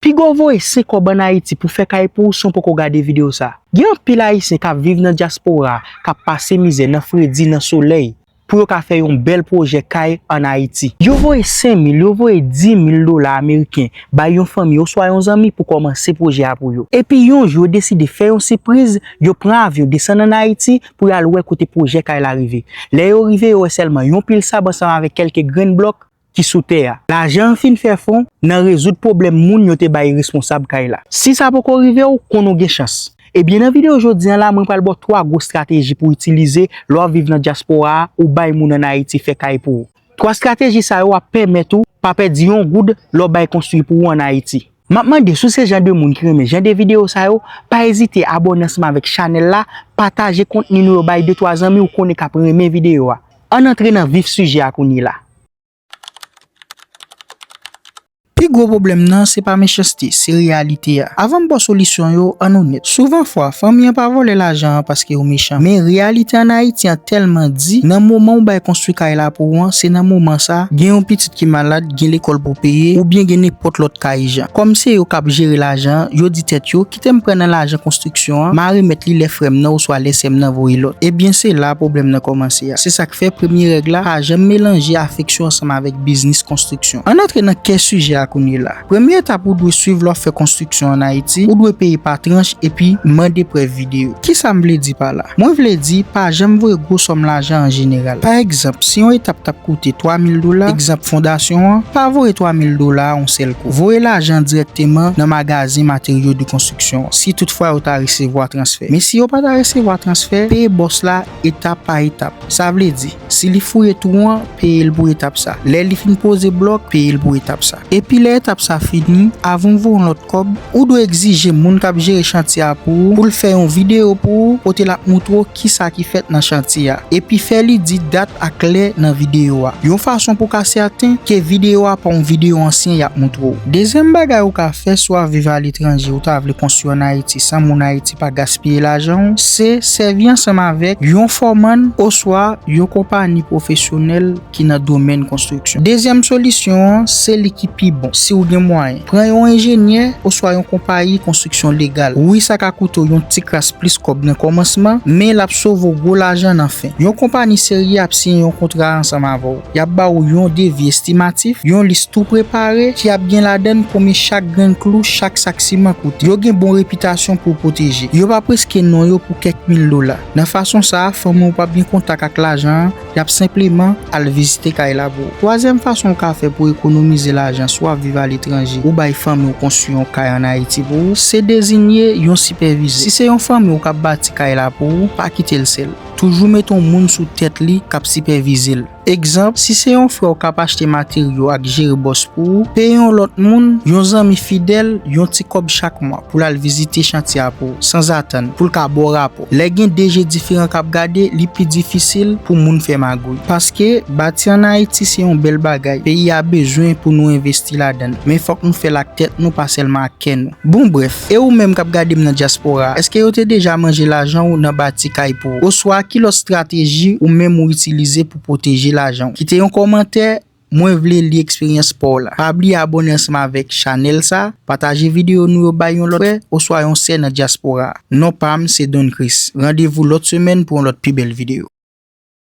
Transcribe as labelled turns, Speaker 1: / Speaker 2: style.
Speaker 1: Pigaw voye 5 kob an ayiti pou fè kay pou ou san w poko gade video sa. Gen anpil ayisyen kap viv nan dyaspora kap pase mizè nan fredi nan solèy pou yo ka fè yon bèl pwojè kay an ayiti. Yo voye 5 mil, yo voye 10 mil dola ameriken bay yon fanmi oswa yon zanmi pou kòmanse pwojè a pou yo. Epi yon jou yo deside fè yon sipriz, yo pran avyon desann an ayiti pou yal wè kote pwojè kay la rive. Lè yo rive yo wè sèlman yon pil sab ansanm avèk kèlke grenn blòk. ki sou tè a. Lajan an fin fè fon nan rezoud pwoblèm moun yo te bay responsab kay la. Si sa poko rive w, konn ou gen chans. Ebyen nan videyo jodi an la mwen pral ba w 3 gwo strateji pou w itilize lè w ap viv nan dyaspora a ou bay moun an Ayiti fè kay pou ou. 3 strateji sa yo ap pèmèt ou pa pèdi yon goud lè w bay konstwi pou ou an Ayiti. Map mande si w se jan de moun ki renmen jan de video sa yo, pa ezite abòne ansanm avèk chanèl la, pataje kontni nou yo bay de twa zanmi ou konnen kap renmen video a. Ann antre nan vif sijè a kounyela. Pi gwo pwoblèm nan se pa mechanste, se reyalite a. Avan m ba w solisyon yo, ann onèt. Souvan fwa, fanmi an pa vòlè lajan an paske yo mechan. Men reyalite an Ayiti an tèlman di, nan moman ou bay konstwi kay la pou ou an, se nan moman sa, gen yon pitit ki malad, gen lekòl pou peye, oubyen gen nenpòt lòt ka ijan. Kòm se yo k ap jere lajan an, yo di tèt yo, kite m pran nan lajan konstriksyon an, m a remèt li lè frè m nan oswa lè sè m nan voye lòt. Ebyen se la pwoblèm nan kòmanse a. Se sa k fè premye règ la, pa janm melanje afeksyon ansanm avèk biznis konstriksyon. Ann antre nan kè sijè a kounyela. Premye etap ou dwe swiv lè w ap fè konstriksyon ann Ayiti, ou dwe peye pa tranch epi mande prèv videyo. Kisa m vle di pa la? Mwen vle di pa janm voye gwo sòm lajan an jeneral. Pa egzanp, si yon etap t ap koute 3 mil dola, egzanp fondasyon an, pa voye 3 mil dola a yon sèl kou. Voye lajan dirèkteman nan magazen materyo de konstriksyon an, si toutfwa yo ta resevwa transfè. Men si yo pa ta resevwa transfè, peye bòs la etap pa etap. Sa vle di, si li fouye twou an, peye l pou etap sa. Lè li fin poze blòk, peye l pou etap sa. Epi lè etap sa fini, avan w voye yon lòt. ak kòb, ou dwe egzije moun k ap jere chantye a pou ou pou l fè yon videyo pou ou kote l ap montre w kisa ki fèt nan chantye a, epi fè li di dat ak lè nan videyo a, yon fason pou w ka sèten ke videyo a pa yon videyo ansyen y ap montre w. Dezyèm bagay ou ka fè si w ap viv aletranje ou ta vle konstwi an Ayiti san moun Ayiti pa gaspiye lajan w, se sèvi ansanm avèk yon fòmann oswa yon konpani pwofesyonèl ki nan domèn konstriksyon. Dezyèm solisyon an se li ki pi bon, si ou gen mwayen, pran yon enjenyè oswa yon konpayi konstriksyon legal. Wi sa ka koute w yon ti kras plis kòb nan kòmansman, men l ap sove w gwo lajan nan fen. Yon konpani serye ap siyen yon kontra ansanm avè w. Y ap ba ou yon devi estimatif, yon lis tou prepare ki ap gen ladan l konbyen chak grenn klou, chak sak siman koute. Yo gen bon repitasyon pou pwoteje. Yo p ap riske non yo pou kèk mil dola. Nan fason sa a, fanmi w pa p gen kontak ak lajan an. Y ap senpleman al vizite kay la pou ou. Twazyèm fason ou ka fè pou ekonomize lajan si w ap viv aletranje ou bay fanmi w konstwi yon kay ann Ayiti pou ou, se dezinye yon sipèvizè. Si se yon fanmi w k ap bati kay la pou ou, pa kite l sèl. Toujou mete yon moun sou tèt li k ap sipèvize l. Egzanp, si se yon frè w k ap achte materyo ak jere bòs pou ou, peye yon lòt moun, yon zanmi fidèl, yon ti kòb chak mwa pou l al vizite chantye a pou ou, sanzatann, pou l ka ba w rapò. Lè gen 2 je diferan k ap gade, li pi difisil pou moun fè magouy. Paske, bati an Ayiti se yon bèl bagay, peyi a bezwen pou nou envesti ladan l. Men fòk nou fè l ak tèt nou pa sèlman ak kè nou. Bon brèf, e ou menm k ap gade m nan dyaspora, èske yo te deja manje lajan ou nan bati kay pou ou? Oswa ki lòt strateji ou menm ou itilize pou pwoteje lajan ou? Kite yon kòmantè Mwen vle li eksperyans paw la. Pa bliye abone ansanm avèk chanèl sa, pataje videyo nou yo bay yon lòt frè oswa yon sè nan dyaspora. Non pam se Don Chris. Randevou lòt semèn pou yon lòt pi bèl videyo.